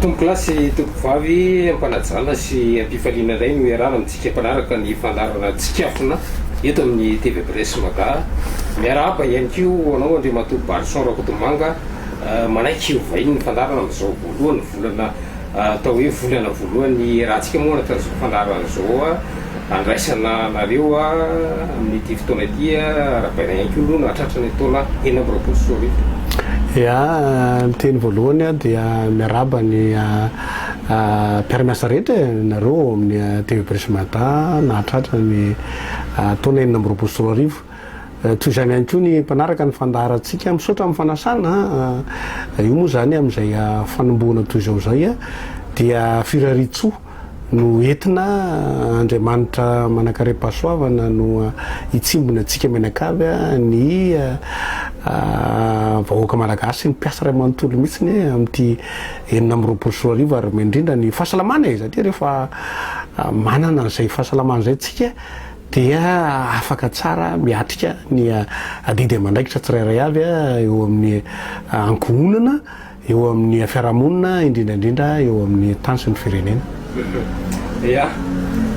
Tompokolahy sy Tompovavy, am-panajana sy am-pifaliana indray no iarahana amintsika mpanaraka ny fandaharana Tsikafona eto amin'ny TV Abresse Maga. Miarahaba ihany koa ho anao Andriamatoa Barison Rakotomanga, manaiky ovain'ny fandaharana amin'izao voalohan'ny volana Atao hoe volana voalohany ny hierahantsika moa araka izao fandaharana izao andraisana anareo amin'ity fotoana ity. Arahabaina ihany koa aloha no hahatratra ny taona enina amby roapolo sy roa arivo. Ia, ny teny voalohany aho dia miarahaba ny mpiara-miasa rehetra e, nareo ao amin'ny TV Presmata nahatratra ny taona enina amby roapolo sy roa arivo. Toy izany ihany koa ny mpanaraka ny fandaharantsika misaotra amin'ny fanasana, io moa izany amin'izay fanombohana toy izao izay dia firarian-tsoa no entina Andriamanitra manankarem-pahasoavana no hitsimbina antsika mianakavy ny vahoaka Malagasy ny mpiasa iray manontolo mihitsy amin'ity enina amby roapolo sy roa arivo ary indrindra ny fahasalamana e! Satria rehefa manana an'izay fahasalamana izay tsika dia afaka tsara miatrika ny adidy aman-draikitra tsirairay avy eo amin'ny ankohonana, eo amin'ny fiarahamonina, indrindra indrindra eo amin'ny tany sy ny firenena. Ia,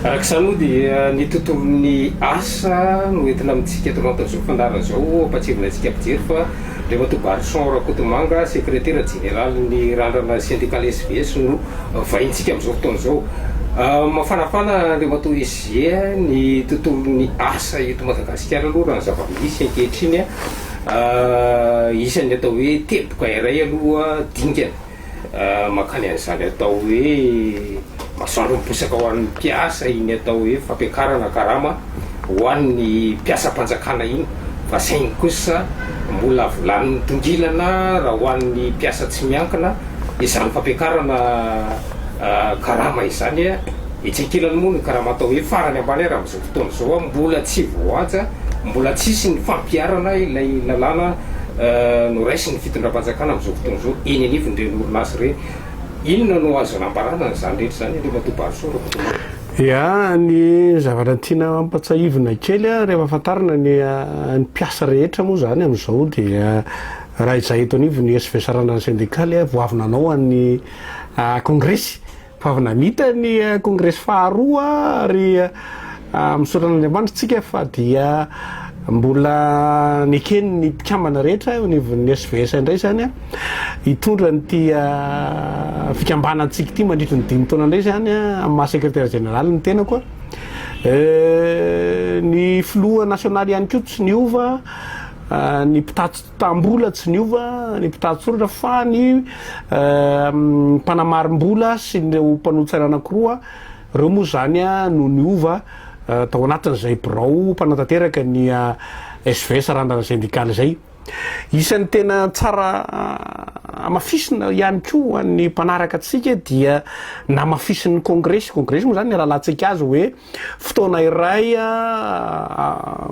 araka izany moa dia ny tontolon'ny asa no entina amintsika eto Mada izao fandaharana izao. Ampahatsiarovina antsika mpijery fa ilay matoa Barison Rakotomanga, sekretera jeneralin'ny Randrana Sendikaly SVS no vahintsika amin'izao fotoana izao. Mafanafana Andriamatoa Is. Dia ny tontolon'ny asa eto Madagasikara aloha raha ny zava-misy ankehitriny an, isan'ny atao hoe teboka iray aloha dingana mankany an'izany atao hoe masoandro miposaka ho an'ny mpiasa iny atao hoe fampiakarana karama ho an'ny mpiasam-panjakana iny fa saingy kosa mbola volanin'ny tongilana raha ho an'ny mpiasa tsy miankina izany fampiakarana karama izany an. Etsy ankilany moa ny karama atao hoe farany ambany ary amin'izao fotoana izao mbola tsy voahaja, mbola tsy hisy ny fampiharana ilay lalàna noraisin'ny fitondram-panjakana amin'izao fotoana izao eny anivon'ireny orinasa ireny. Inona no azo nambarana an'izany rehetra izany Andriamatoa Barisoa Rakotomanga? Ia, ny zavatra tiana hampatsahivina kely rehefa fantarina ny ny mpiasa rehetra moa izany amin'izao dia raha izahay eto anivon'ny SVSR-na ny sendikaly vao avy nanao an'ny kongresy Ho avy namita ny kongresy faharoa ary misaotra an'Andriamanitra isika fa dia mbola neken'ny mpikambana rehetra eo anivon'ny SVS indray izany hitondra an'ity fikambanantsika ity mandritra ny dimy taona indray izany amin'ny maha sekretera jeneraly ny tenako ny filoha nasionaly ihany koa tsy niova ny mpitatitra Mbola tsy niova ny mpitari-tsoratra fa ny mpanamarim-bola sy ireo mpanolo-tsaina anankiroa, ireo moa izany no niova tao anatin'izay birao mpanatanteraka ny SVS Randrana Sendikaly izay. Isan'ny tena tsara hamafisina ihany koa ny mpanaraka antsika dia namafisin'ny kongresy, kongresy moa izany ny rahalahintsika azy hoe. fotoana iray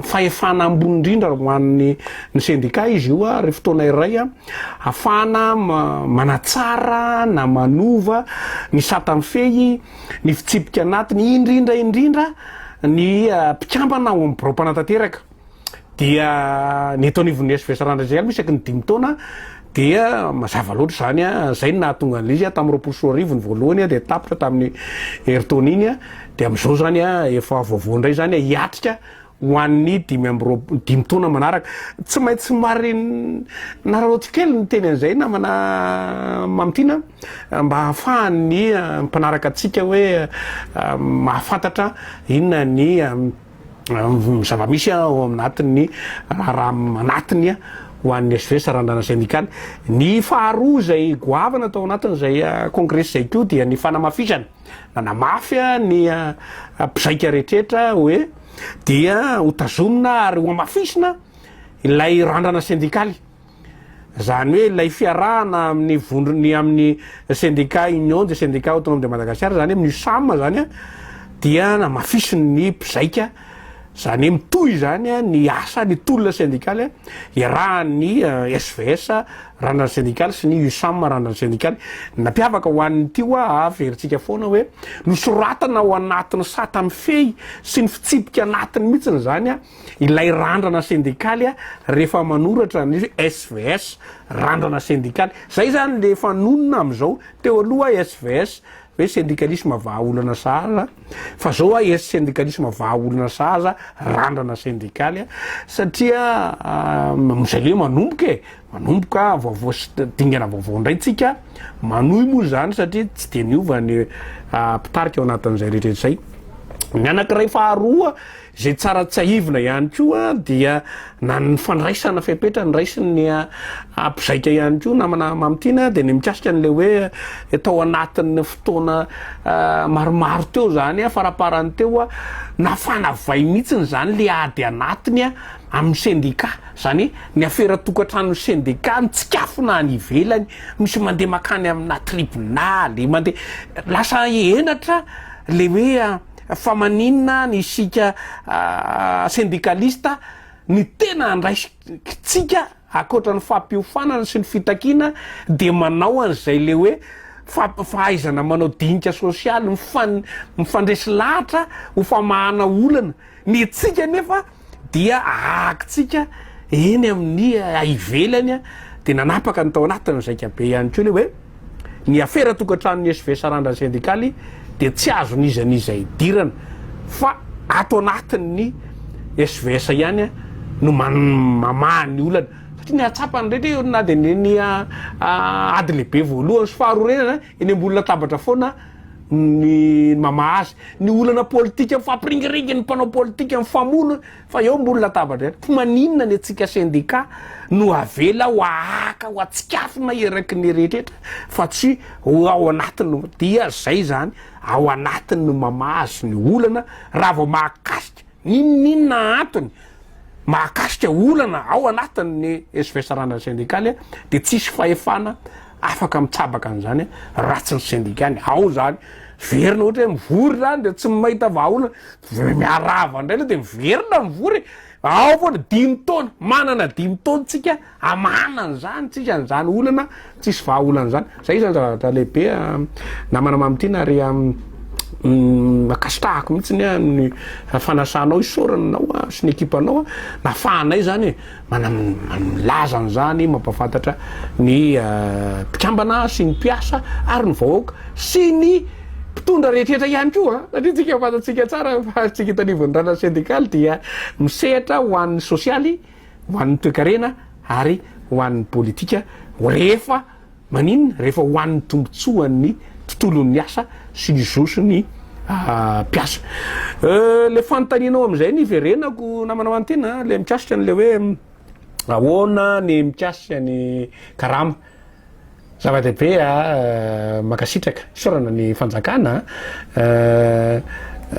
fahefana ambony indrindra ho an'ny ny sendika izy io ary fotoana iray afahana manatsara na manova ny satan'ny fehy ny fitsipika anatiny indrindra indrindra ny mpikambana ao amin'ny birao mpanatanteraka dia ny eto anivon'ny SVS Randriandriaina moa isaky ny dimy taona dia mazava loatra izany a zay ny nahatonga an'izy a tamin'ny roapolo sy roa arivo ny voalohany a dia tapitra tamin'ny herintaona iny a dia amin'izao izany a efa vaovao indray izany a hiatrika ho an'ny dimy amby roapolo dimy taona manaraka tsy maintsy mari nararaoty kely ny teny an'izay namana mamitina mba hahafahan'ny ah, mpanaraka antsika hoe ah, mahafantatra inona ny ah, zava-misy ao anatin'ny raharaha anatiny ho an'ny HVS Sarandana Sendikaly. Ny faharoa izay goavana tao anatin'izay kongresy izay koa dia ny fanamafisana. Nanamafy ny mpizaika rehetra hoe dia hotazomina ary hoamafisina ilay randrana sendikaly. Izany hoe ilay fiarahana amin'ny vondrony amin'ny sendika Union des syndicats autonomes de Madagascar izany amin'ny USAM izany dia namafisiny ny mpizaika izany hoe mitohy izany ny asa ny tolona sendikaly iarahan'ny SVS eh, randrany sendikaly sy ny USAM randrany sendikaly nampiavaka ho an'ny tiwa averintsika ah, foana hoe nosoratana ao anatin'ny sata mifehy sy ny fitsipika anatiny mihitsy izany ah, Ilay randrana sendikaly a, rehefa manoratra ny SVS, randrana sendikaly. Zay zany le efa nonina amizao. Teo aloha SVS, hoe sendikalisma vaha olana sahaza, fa zao a es sendikalisma vaha olana sahaza, randrana sendikaly a. Satria amizay le manomboka e, manomboka vaovao sy dingana vaovao ndray tsika, manohy moa zany satria tsy de niova ny mpitarika ao anatin'izay rehetra izay. Ny anakiray faharoa, Izay tsara tsiahivina ihany koa dia na ny fandraisana fepetra noraisin'ny mpizaika ihany koa namana Mamy Tiana dia ny mikasika an'ilay hoe tao anatin'ny fotoana maromaro teo izany faraparany teo nafana vay mihitsy izany ilay ady anatiny amin'ny sendika izany ny afera tokantranon'ny sendika mitsikafona any ivelany misy mandeha makany amina tribonaly mandeha lasa henatra ilay hoe Fa maninona any isika sendikalista ny tena andraikitsika ankoatra ny fampiofanana sy ny fitakiana dia manao an'izay le hoe fahaizana manao dinika sosialy mifandresy lahatra ho famahana olana, ny antsika anefa dia ahakintsika eny amin'ny ivelany dia nanapaka ny tao anatin'ny zaika be ihany koa le hoe ny afera tokantranon'ny SV sarandra sendikaly dia tsy azon'iza n'iza idirana fa ato anatin'ny SVS ihany no mamaha ny olana satria ny atsapany rehetra eo na dia ny ah, ah, ady lehibe voalohany sy faharorenana Eny ambony latabatra foana ny mamaha azy. Ny olana politika mifampiringiringy ny mpanao politika mifamono fa eo ambony latabatra eo. Fa maninona ny antsika sendika no avela ho ahaka ho atsikafona eraky ny rehetra fa tsy ho ao anatiny dia zay zany ao anatiny mamaha azy ny olana raha vao mahakasika N'inon'inona antony mahakasika olana ao anatin'ny svsrana sendikaly dia tsisy fahefana afaka mitsabaka an'izany raha tsy ny sendikany ao izany. Miverina ohatra hoe mivory izany dia tsy mahita vahaolana, dia miarahaba indray aloha dia miverina mivory e! Ao foana, dimy taona, manana dimy taona tsika. Amana an'izany tsika an'izany olana tsisy vahaolana zany. Zay zany zavatra lehibe namana mamitiana ary makasitahako mihitsy ny ny fanasanao isaorana anao sy ny ekipanao nafahanay zany milaza an'izany mampafantatra ny mpikambana sy ny mpiasa ary ny vahoaka sy ny mpitondra rehetrrehetra ihany koa satria tsika fantatsika tsara fa tsika eto anivon'ny ranasy sendikaly dia misehatra ho an'ny sosialy ho an'ny toekarena ary ho an'ny politika rehefa maninona? Rehefa ho an'ny tombontsoan'ny tontolon'ny asa sy ny zo sy ny mpiasa. Ilay fanontanianao amin'izay no iverenako namana Manintena, ilay mikasika an'ilay hoe ahoana ny mikasika ny karama. Zava-dehibe a! Mankasitraka. Isaorana ny fanjakana a!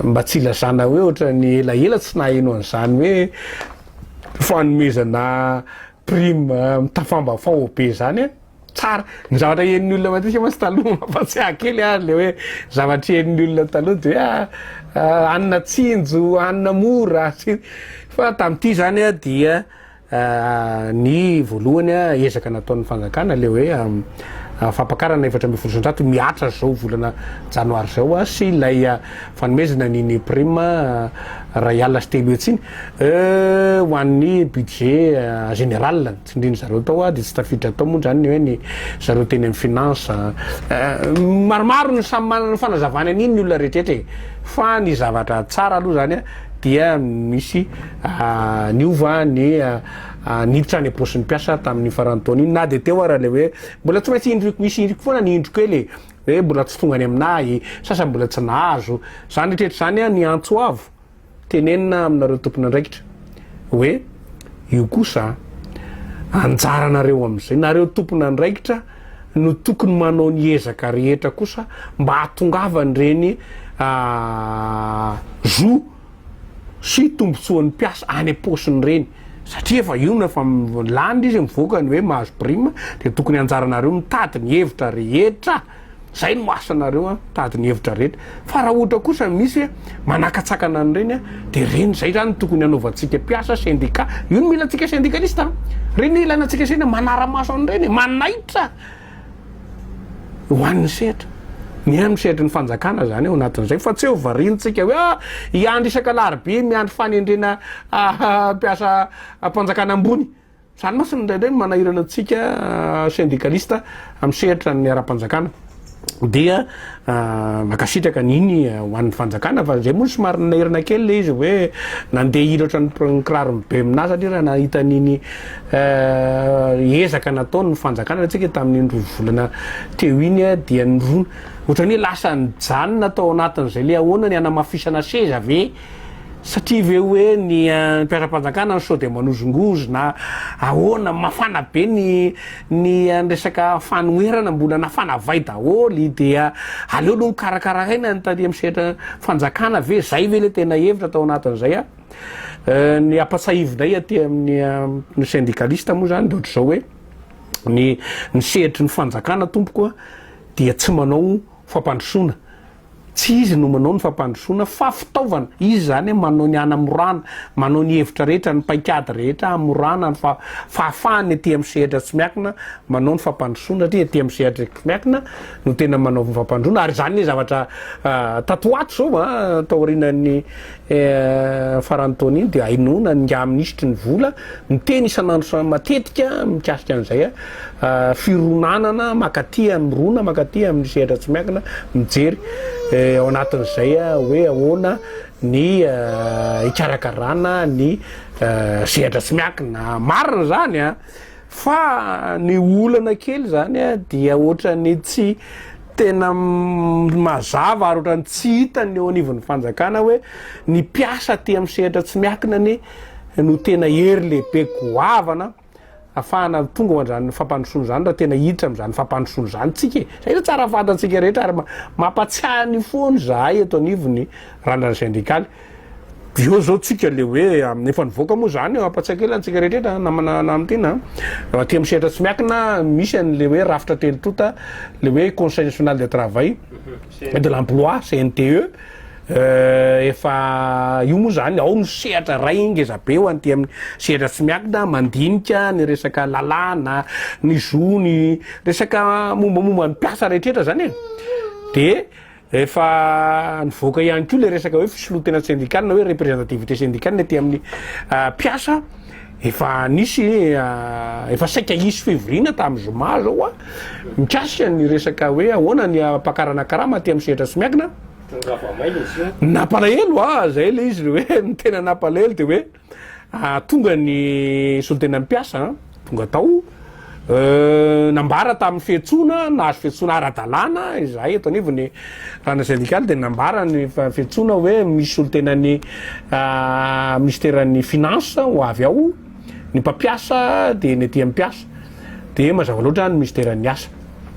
Mba tsy ilazana hoe ohatran'ny elaela tsy naheno an'izany hoe fanomezana prime mitafambafao be izany a! Tsara. Ny zavatra henon'ny olona matetika mantsy taloha mampatsiahy kely a! Le hoe zavatra henon'ny olona taloha de hoe a! hanina tsinjo, hanina mora, fa tamin'ity izany a dia. Ny voalohany, ezaka nataon'ny fanjakana ilay hoe fampakarana efatra ambin'ny folo isan-jato mihatra izao volana janoary izao sy ilay fanomezana ny ny prime iray alina sy telo hetsy iny ho an'ny budget général. Ny tsindrian'ny zareo tao dia tsy tafiditra tao moa izany ny hoe ny zareo teny amin'ny finance. Maromaro ny samy manana ny fanazavany an'iny ny olona rehetrarehetra e! Fa ny zavatra tsara aloha izany dia misy Niova ny niditra any am-paosin'ny mpiasa tamin'iny faran'ny taona iny na dia teo ara ilay hoe mbola tsy maintsy indro misy indriko foana ny indro kely e, hoe mbola tsy tonga any aminahy, sasany mbola tsy nahazo. Izany rehetra izany ny antso avo tenenina aminareo tompon'andraikitra hoe io kosa anjaranareo amin'izay, nareo tompon'andraikitra no tokony manao ny ezaka rehetra kosa mba hahatongavan'ireny zo sy tombotsoan'ny mpiasa any am-paosiny ireny satria efa io no efa laniny izy mivoaka ny hoe mahazo prime dia tokony anjaranareo mitady ny hevitra rehetra zay no asanareo a mitady ny hevitra rehetra fa raha ohatra kosa misy manakatsakana an'ireny dia ireny zay zany tokony hanaovantsika mpiasa sendika io no milantsika sendikalista ireny ilana antsika sendika manara-maso an'ireny manaitra ho an'ny sehatra. Mihaino ny sehatry ny fanjakana izany ao anatin'izay fa tsy ho variantsika hoe ah, hiandry isaka alarobia miandry fanendrena ah, ah, mpiasa ah, mpanjakana ambony. Izany mantsy indraindray no manahirana antsika ah, sendikalista amin'ny sehatra ny ara-panjakana dia Mankasitraka Nini ho an'ny fanjakana fa zay moa somary ninairana kely le izy hoe nandeha hira ohatran'ny kiraron'i Bemina satria raha nahita an'iny ezaka nataon'ny fanjakana antsika tamin'iny roa volana teo iny dia nirona ohatran'ny hoe lasa nijanona tao anatin'izay le ahoana ny hanamafisana seza ve Satria ve hoe ny mpiara-panjakana no sao dia manozongozo na ahoana, mafana be ny ny resaka fanoherana, mbola nafana vay daholo dia aleo aloha nokarakaraina ny taty amin'ny sehatra fanjakana ve, izay ve ilay tena hevitra tao anatin'izay a? Ny ampatsiahivinay aty amin'ny syndicaliste moa izany dia ohatr'izao hoe ny ny sehatry ny fanjakana tompoko a dia tsy manao fampandrosoana, Tsy izy no manao ny fampandrosoana fa fitaovana. Izy izany manao ny hanamorana, manao ny hevitra rehetra, ny paikady rehetra hamorana ny fahafahany aty amin'ny sehatra tsy miankina manao ny fampandrosoana satria aty amin'ny sehatra miankina no tena manaova ny fampandroana ary izany ny zavatra tato ho ato izao an, taorianan'ny Eny faran'ny taona iny dia hainoana ny ingahy minisitry ny vola miteny isan'andro sy matetika mikasika an'izay fironanana makaty amin'ny rona makaty amin'ny sehatra tsy miankina mijery ao anatin'izay hoe ahoana ny hikarakarana ny sehatra tsy miankina marina zany a Fa ny olana kely izany dia ohatran'ny tsy tena mazava ary ohatran'ny tsy hita ny eo anivon'ny fanjakana hoe ny mpiasa aty amin'ny sehatra tsy miankina anie no tena hery lehibe goavana afahana tonga ao an'izany fampandrosoana izany raha tena hiditra amin'izany fampandrosoana izany tsika e. Izay no tsara fantatsika rehetra ary mampatsiahy ny foana izahay eto anivon'ny Randrana Sendikaly. Eo zao tsika le hoe efa nivoaka moa zany ampatsiaka kely antsika rehetra namana namitiana an, aty amin'ny sehatra tsy miakina misy an'le hoe rafitra telo tonta le hoe conseil national de travail et de l'emploi CNTE efa io moa zany ao no sehatra ray ngeza be ho an'ity amin'ny sehatra tsy miakina mandinika ny resaka lalàna ny zo ny resaka mombamomba ny mpiasa rehetra zany e de Efa nivoaka ihany koa ilay resaka hoe fisolontena sendikaly na hoe representativité sendikaly ny aty amin'ny mpiasa. Efa nisy efa saika hisy fivoriana tamin'ny zoma zao a mikasika ny resaka hoe ahoana ny hampakarana karama aty amin'ny sehatra tsy miankina. Nampalahelo a, zay ilay izy hoe ny tena nampalahelo dia hoe. Tonga ny solontenan'ny mpiasa, tonga tao, nambara tamin'ny fiantsoana, nahazo fiantsoana ara-dalàna izahay eto anivon'ny Rana Syndical dia nambara ny fiantsoana hoe misy solontenan'ny Minisiteran'ny Finances ho avy ao ny mpampiasa dia ny aty amin'ny mpiasa dia mazava loatra ny Minisiteran'ny Asa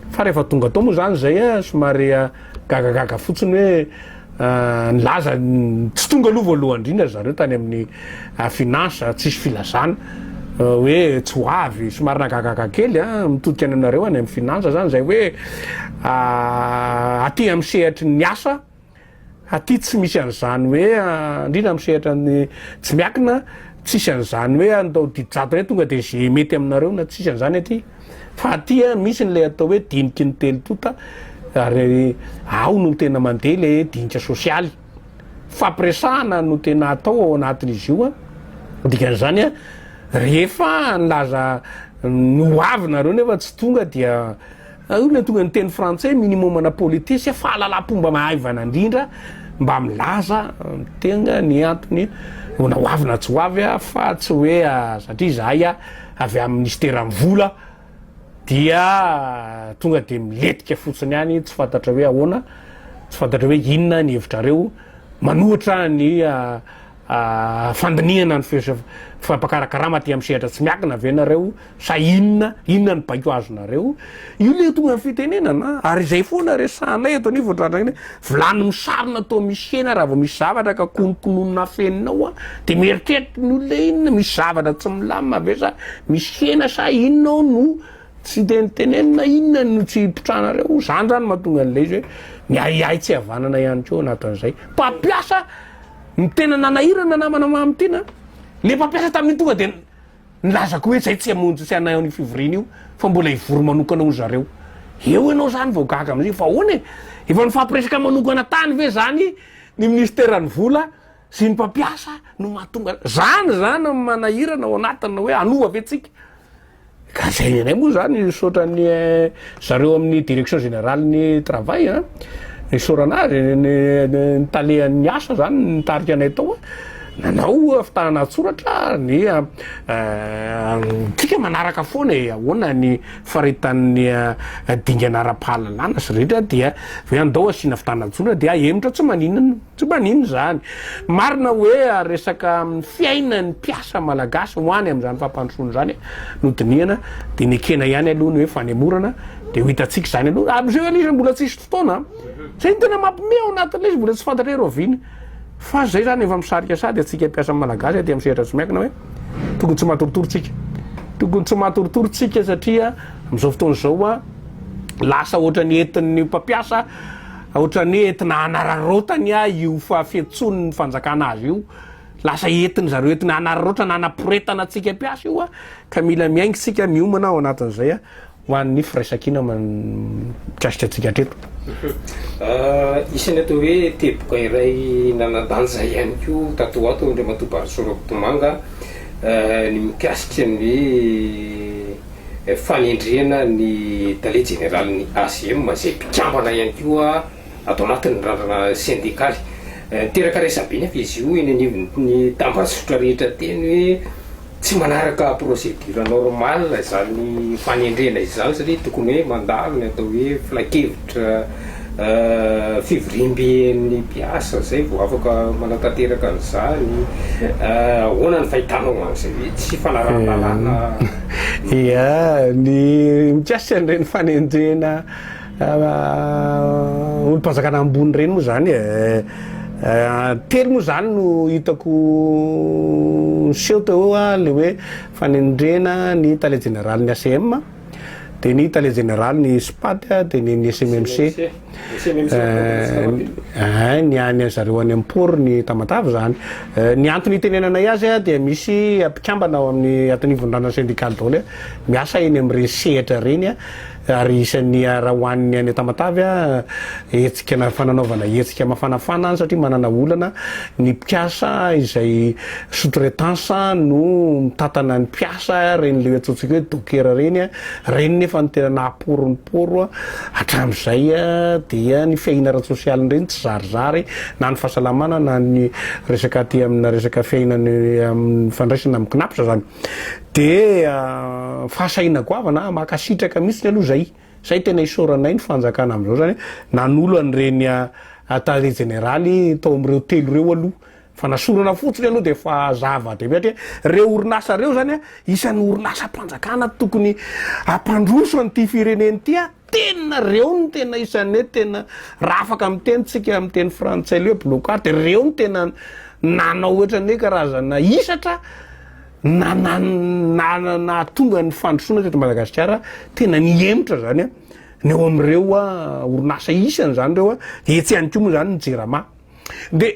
fa rehefa tonga tao moa izany izay somary gagagaga fotsiny hoe Nilaza ny tsy tonga aloha voalohany indrindra ry zareo tany amin'ny Finance, tsisy filazana hoe tsy ho avy, somary nahagagaga kely an, mitodika any aminareo any amin'ny Finance zany zay hoe aty amin'ny sehatry ny asa, aty tsy misy an'izany hoe indrindra amin'ny sehatra ny tsy miakina, tsisy an'izany hoe andao didy zato indray tonga dia ze mety aminareo na tsisy an'izany aty. fa aty a misy n'ilay atao hoe diniky ny telo tonta ary ao no tena mandeha le dinika sosialy fampiresahana no tena atao ao anatin'izy io a dikan'izany a rehefa nilaza ny ho avy nareo nefa tsy tonga dia io le tonga ny teny frantsay minimum ana politesse a fahalalam-pomba mahaivana indrindra mba milaza tenga ny antony ona ho avy na tsy ho avy a fa tsy hoe satria zahay a avy amin'ny minisiteran'ny vola dia tonga dia miletika fotsiny ihany tsy fantatra hoe ahoana, tsy fantatra hoe inona ny hevitrareo, manohitra ny fandinihana ny fampakarakarama aty amin'ny sehatra tsy miankina ve nareo sa inona, inona ny baiko azonareo? Io le tonga ny fitenenana ary izay foana resahanay eto anivon'ny trandrangina hoe vilany misarona toa misy hena raha vao misy zavatra ka konokononina afeninao a dia mieritreritra ny olona inona misy zavatra tsy milamina ve sa misy hena sa inona ao no tsy tenitenenina inona no tsy hipitrahanareo izany izany mahatonga an'ilay izy hoe ny ahiahy tsy havanana ihany koa anatin'izay mpampiasa ny tena nanahirana namana mamitiana le mpampiasa tamin'ny tonga dia Nilaza koa hoe zay tsy hamonjy tsy hanahy an'io fivoriana io fa mbola hivory manokana hoy zareo. Eo ianao zany vao gaga amin'izay fa ahoana e? Efa nifampiresaka manokana tany ve zany ny minisiteran'ny vola sy ny mpampiasa no mahatonga zany zany ny manahirana ao anatin'ny hoe hanova ve tsika? Ka zay ny anay moa zany misaotra ny zareo amin'ny direction générale ny travail an, isaorana azy ny tale an'ny asa zany nitarika anay tao an. Nanao fitahana an-tsoratra ary ny antsika manaraka foana e, ahoana ny faritanin'ny dingana ara-pahalalana sy rehetra dia ve andao asiana fitahana an-tsoratra dia ahemotra tsy maninona tsy maninona izany. Marina hoe resaka fiainan'ny mpiasa malagasy ho any amin'izany fampandrosoana izany no dinihana dia nekena ihany aloha ny hoe fanemorana dia ho hitantsika izany aloha, amin'izao anie izy mbola tsisy fotoana, izay no tena mampiomehy ao anatin'ilay izy mbola tsy fantatra hoe rahoviana. Fa zay zany efa misarika sady atsika mpiasa malagasy aty am sehatra tsy miankina hoe tokony tsy matoritory tsika tokony tsy matoritory tsika satria amzao fotoana zao a lasa ohatrany entin'ny mpampiasa ohatrany entina hanararaotany a io fahafetson'ny fanjakana azy io lasa entiny zareo entina hanararaotana anaporetana atsika mpiasa io a ka mila miaingy tsika miomana ao anatin'izay a Ho an'ny firaisankina mikasika antsika hatreto. Isan'ny atao hoe teboka iray nanan-danja ihany koa tato ho ato Andriamatoa Barisoa Rakotomanga ny mikasika ny hoe fanendrena ny Tale Jeneralin'ny ACM izay mpikambana ihany koa ato anatin'ny randrana sendikaly. Niteraka resabe anefa izy io eny anivon'ny tambajotra rehetra teny hoe. Tsy manaraka procédure normale izany fanendrena izany satria tokony hoe mandalo ny atao hoe filankevitra fivoriamben'ny mpiasa izay vao afaka manatanteraka an'izany. Ahoana ny fahitanao an'izay hoe tsy fanarahan-dalàna? Ia, ny mikasika an'ireny fanendrena. olom-panjakana ambony ireny moa izany e, telo moa izany no hitako niseho teo eo an, ilay hoe fanendrena ny tale jeneraly ny ACM, dia ny tale jeneraly ny SPAT, dia ny ny SMMC, ny any zareo any am-port ny Tamatave izany. Ny antony itenenanay azy dia misy mpikambana ao amin'ny atonivon-drana syndical daholo miasa eny amin'ireny sehatra ireny ary isan'ny hiara ho an'ny any Tamatave hetsika fananaovana hetsika mafanafana any satria manana olana ny mpiasa izay sous-traitance no mitantana ny mpiasa ireny le atsotsika hoe docker ireny ireny nefa ny tena nahapory ny poro hatramin'izay dia ny fiahiana ara-tsosialy ireny tsy zarizary na ny fahasalamana na ny resaka aty amina resaka fiainana amin'ny fandraisana amin'ny kinaps zany Dia fahasahiana goavana ah, makasitraka mihitsiny aloha zay, zay tena isaoranay ny fanjakana amzao zany hoe nanolo an'ireny tale jeneraly tao amreo telo reo aloha, fanasorana fotsiny aloha dia efa zava dehibe satria reo orinasa reo zany a isan'ny orinasam-panjakana tokony ampandroso an'ity firenena ity ah. Tena reo no tena isan'ny hoe tena raha afaka miteny tsika amin'ny teny frantsay le blocard de reo no tena nanao ohatrany hoe karazana hisatra na na na nahatonga ny fandrosoana teto Madagasikara tena nihemotra zany a ny eo amin'ireo a orinasa isany zany reo a de etsy ihany koa moa zany ny jirama de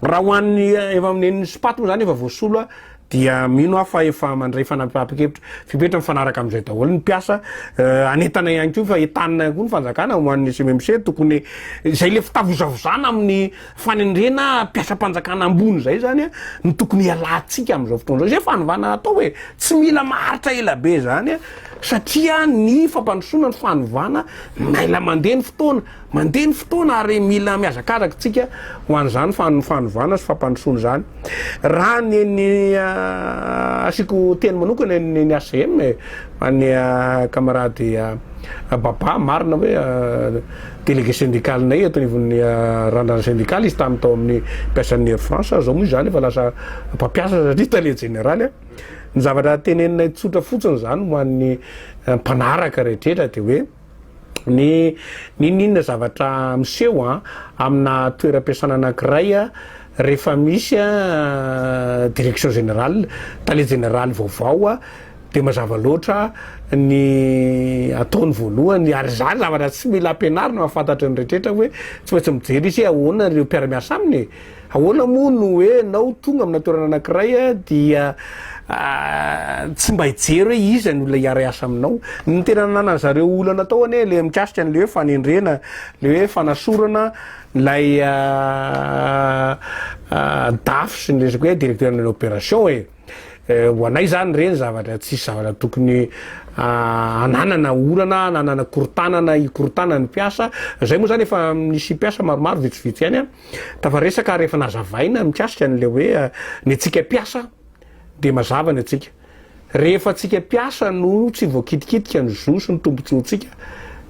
Raha ho an'ny eh, efa amin'ny nen'ny spaty moa zany efa voasolo a, dia mino aho fa efa mandray fanapahan-kevitra fipetra mifanaraka amin'izay daholo ny mpiasa eh, anentana ihany koa fa entanina koa ny fanjakana ho an'ny CMMC tokony izay le fitavozavozana amin'ny fanendrena mpiasam-panjakana ambony izay zany a no tokony hialantsika amin'izao fotoana izao izay fanovana atao hoe tsy mila maharitra ela be izany a satria ny fampandrosoana ny fanovana maila mandeha ny fotoana Mandeha ny fotoana ary mila mihazakazaka isika ho an'izany fanovana sy fampandrosoana izany. Raha ny ny asiako teny manokana ny ny HCM e, ho an'ny camarade Baba, marina hoe délégué syndical-nay eto anivon'ny randrana sendikaly izy tamin'ny tao amin'ny mpiasan'ny Air France, izao moa izany efa lasa mpampiasa satria tale jeneraly a. Ny zavatra teneninay tsotra fotsiny izany ho an'ny mpanaraka rehetra dia hoe, ny n'inon'inona zavatra miseho amina toeram-piasana anankiray rehefa misy direction générale, tale jeneraly vaovao dia mazava loatra ny ataony voalohany ary izany zavatra tsy mila ampianarina fa fantatry ny rehetra hoe tsy maintsy mijery izy hoe ahoana ireo mpiara-miasa aminy e! Ahoana moa no hoe enao tonga amina toerana anakiray dia tsy mba hijery hoe iza ny olona hiara hiasa aminao? Ny tena nanana zareo olana tao anie le mikasika anle hoe fanendrena, le hoe fanasorana ilay dafy sy ny resaka hoe directeur de l'opération e! ho anay zany reny zavatra tsisy zavatra tokony ananana olana ananana korotanana hikorontana ny mpiasa, zay moa zany efa misy mpiasa maromaro vitsivitsy ihany an! Tafaresaka ary efa nazavaina ny mikasika an'ilay hoe ny antsika mpiasa dia mazava ny antsika. Rehefa antsika mpiasa no tsy voakitikitika ny zo sy ny tombontsoantsika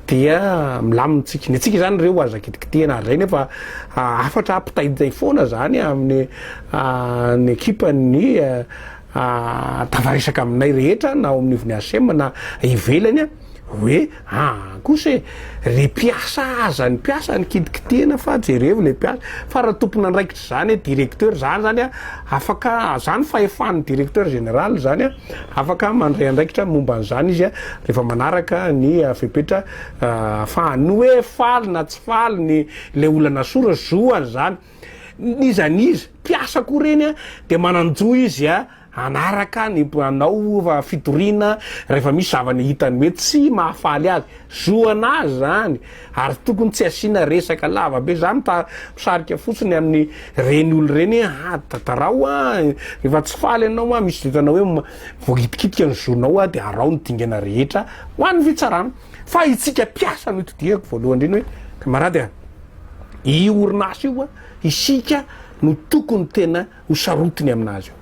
dia milamina antsika. Ny antsika izany re ho aza kitikitihina ary izay nefa hafatra hampitaitay foana izany amin'ny ny ekipan'ny tafaresaka aminay rehetra na ao amin'ivon'ny ACM na ivelany. Hoe an kosa e! Ry mpiasa aza ny mpiasa no kitikitihina fa jerevo le mpiasa fa raha tompon'andraikitra zany e directeur zany zany a afaka zany fahefan'ny directeur général zany a afaka mandray andraikitra momba an'zany izy a rehefa manaraka ny fepetra afahany ny hoe faly na tsy faly ny le olona nasorany zoany zany n'iza n'iza mpiasa koa reny a de manan-jo izy a. hanaraka ny mpanao fitoriana rehefa misy zavany hitany hoe tsy mahafaly azy, zoana azy zany ary tokony tsy asiana resaka lava be, za misarika fotsiny aminy reny olo reny hoe ha tatarao a rehefa tsy faly anao a misy vintana hoe voakitikitika ny zonao a de arao ny dingana rehetra ho an'ny fitsarana fa itsika mpiasa no itodihako voalohany reny hoe kamarady a io orinasa io a isika no tokony tena ho sarotiny amin'azy io.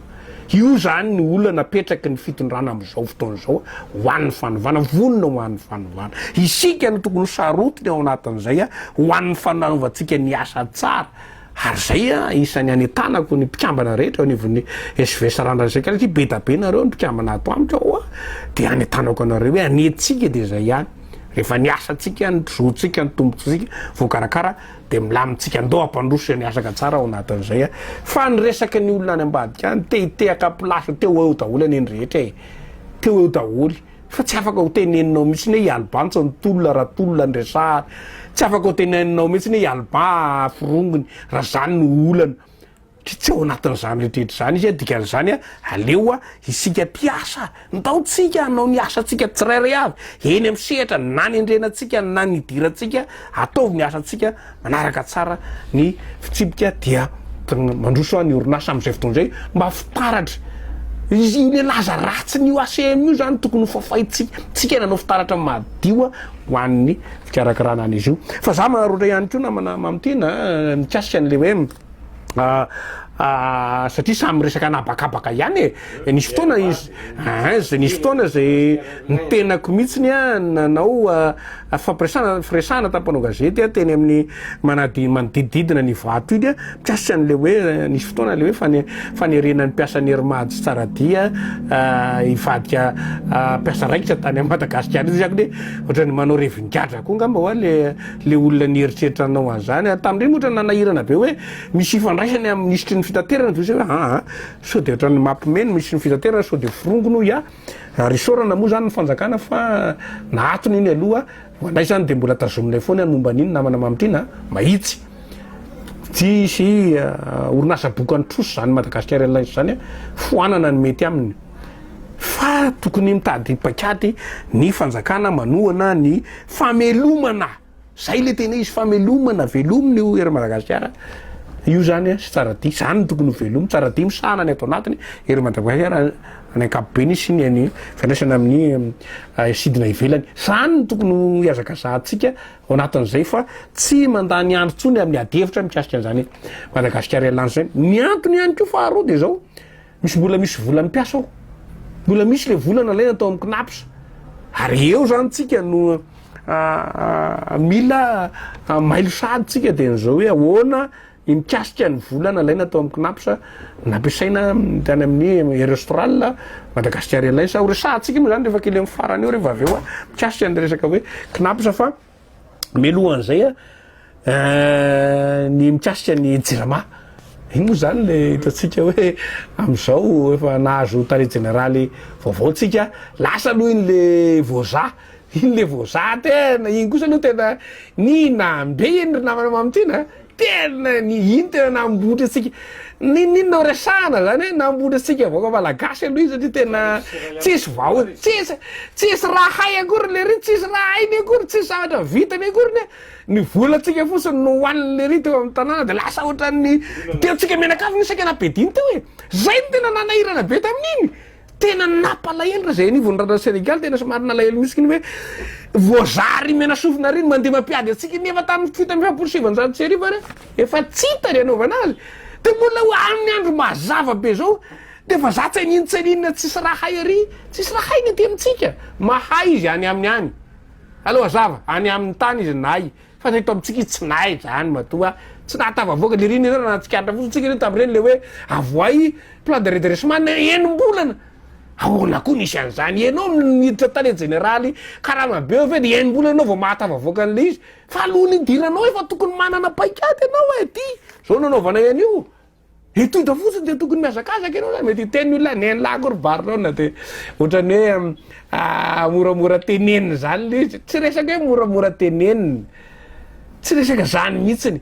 Io izany ny olana napetraky ny fitondrana amin'izao fotoana izao ho an'ny fanovana, vonona ho an'ny fanovana. Isika no tokony ho sarotiny ao anatin'izay ho an'ny fanaovantsika ny asa tsara ary izay isan'ny anentanako ny mpikambana rehetra eo anivon'ny SV Sarandra isak'alina satria be da be nareo ny mpikambana ato amiko ao dia anentanako anareo hoe anetsika dia izay ihany rehefa ny asantsika, ny zoantsika, ny tombontsoantsika voakarakara Dia milamintsika ndao hampandroso izay miasaka tsara ao anatin'izay a! Fa ny resaka ny olona any ambadika any, te hitehaka place, te ho eo daholo anie ny rehetra e! Te ho eo daholo. Fa tsy afaka ho teneninao mihitsy ny hoe i Alba no tsy nitolona raha tolona ny resahana. Tsy afaka ho teneninao mihitsy ny hoe i Alba forongony raha izany no olana. Tsy tsy ao anatin'izany rehetra izany izy, dikan'izany aleo isika mpiasa ndao tsika hanao ny asantsika tsirairay avy eny amin'ny sehatra na ny andrianantsika na ny idirantsika ataovy ny asantsika manaraka tsara ny fitsipika dia mandroso any orinasa amin'izay fotoana izay mba fitaratra izy io le laza ratsiny io ACM io zany tokony ho fafaintsika tsika nanao fitaratra madio ho an'ny fikarakarana an'izy io fa za manaroatra ihany koa namana mamitena mikasika an'le hoe satria samy miresaka an'habakabaka ihany e eh, nisy fotoana izy eh, zay nisy fotoana zay ny tenako mihitsiny a nanao fampiresana firesana tampanao gazety a teny amin'ny manadi manodidididina ny vato iny a mikasika an'le hoe eh, nisy fotoana le hoe fane fanerena ny mpiasa ny hermajo tsara dia hivadika mpiasa raikitra tany amin'i madagasikara izy akony ohatran'ny manao revingadra koa ngamba hoa le le olona nieritreritra anao an'zany ary tamindreny ohatra nanahirana be hoe misy ifandraisany amin'ny minisitry ny fitaterana de hoe aa sao de ohatran'ny mapme ny minisitry ny fitaterana sao de forongony hoy aho ary isaorana moa zany ny fanjakana fa nahatony iny aloha ho anay zany de mbola tazominay foana ny momba an'iny namana mamitrina a mahitsy tsy hisy orinasa bokan'ny trosa zany madagasikara airlines zany a foanana ny mety aminy fa tokony mitady paikady ny fanjakana manohana ny famelomana zay le tena izy famelomana velomy ny ery Madagasikara io zany sy tsara dia zany no tokony ho velomy tsara dia misahana ny ato anatiny ery Madagasikara ny ankapobeny sy ny any fiandraisana amin'ny eh, sidina ivelany zany no tokony ho iazakazahantsika ao anatin'izay fa tsy mandany andro tsony amin'ny ady hevitra mikasika an'izany Madagasikara ialany zany ny antony ihany koa faharoa dia zao Misy mbola misy vola mpiasa ao. Mbola misy le vola nalaina tao amin'ny Cnaps. Ary eo zany tsika no mila mailo sady tsika dia an'izao hoe ahoana ny mikasika ny vola nalaina tao amin'ny Cnaps nampiasaina tany amin'ny Air Austral Madagascar Airlines. Ho resahantsika moa zany rehefa kely amin'ny farany eo rehefa avy eo mikasika ny resaka hoe Cnaps fa Mialoha an'izay a, ny mikasika ny jirama. Iny moa izany le hitantsika hoe amin'izao efa nahazo tale jeneraly vaovao tsika, lasa aloha iny le voza, iny le voza tena, iny kosa aloha tena nina be iny ry namana Mamo Tina a. Tena ny iny tena nambotra antsika Ninin no resahana zany hoe nambotra antsika vahoaka malagasy aloha iny satria tena tsisy vaho tsisy tsisy raha hay akory lery tsisy raha hainy akory tsisy zavatra vitany akory ny ny volantsika fotsiny no hohaniny lery teo amin'ny tanàna de lasa ohatran'ny tiantsika mianakavy ny saika napediany teo e zay no tena nanahirana be tamin'iny Tena nampalahelo raha izay anivon'ny raharaha Senegaly tena somary nalahelo mihitsy kny hoe voazary menasofina ry ny mandeha mampiady antsika iny nefa tamin'ny fito amby efapolo sy sivanjato sy arivo ary efa tsy hita ry anaovana azy dia mbola ho amin'ny andro mazava be izao dia efa za tsainin tsainina tsisy raha hay ary tsisy raha hay ny aty amintsika mahay izy any aminy any aleo hazava any amin'ny tany izy nahay Fa ny eto amintsika izy tsy nahay izany matoa tsy nahatafavoaka dia ireny ianareo raha nahatsikaritra fotsiny tsika ireny tamin'ireny ilay hoe avoahy plan de redressement ny enim-bolana ahoana koa nisy an'izany ianao miditra tale jeneraly karama be ve dia enim-bolana ianao vao mahatafavoaka an'ilay izy fa alohan'ny hidiranao efa tokony manana paikady ianao e ty izao nanaovanay an'io Dia tonta fotsiny dia tokony mihazakazaka ianao zany mety hiteny olona ny en lahy ko ry barlona dia ohatrany hoe ah, moramora tenenina zany le izy tsy resaka hoe moramora tenenina tsy resaka zany mihitsiny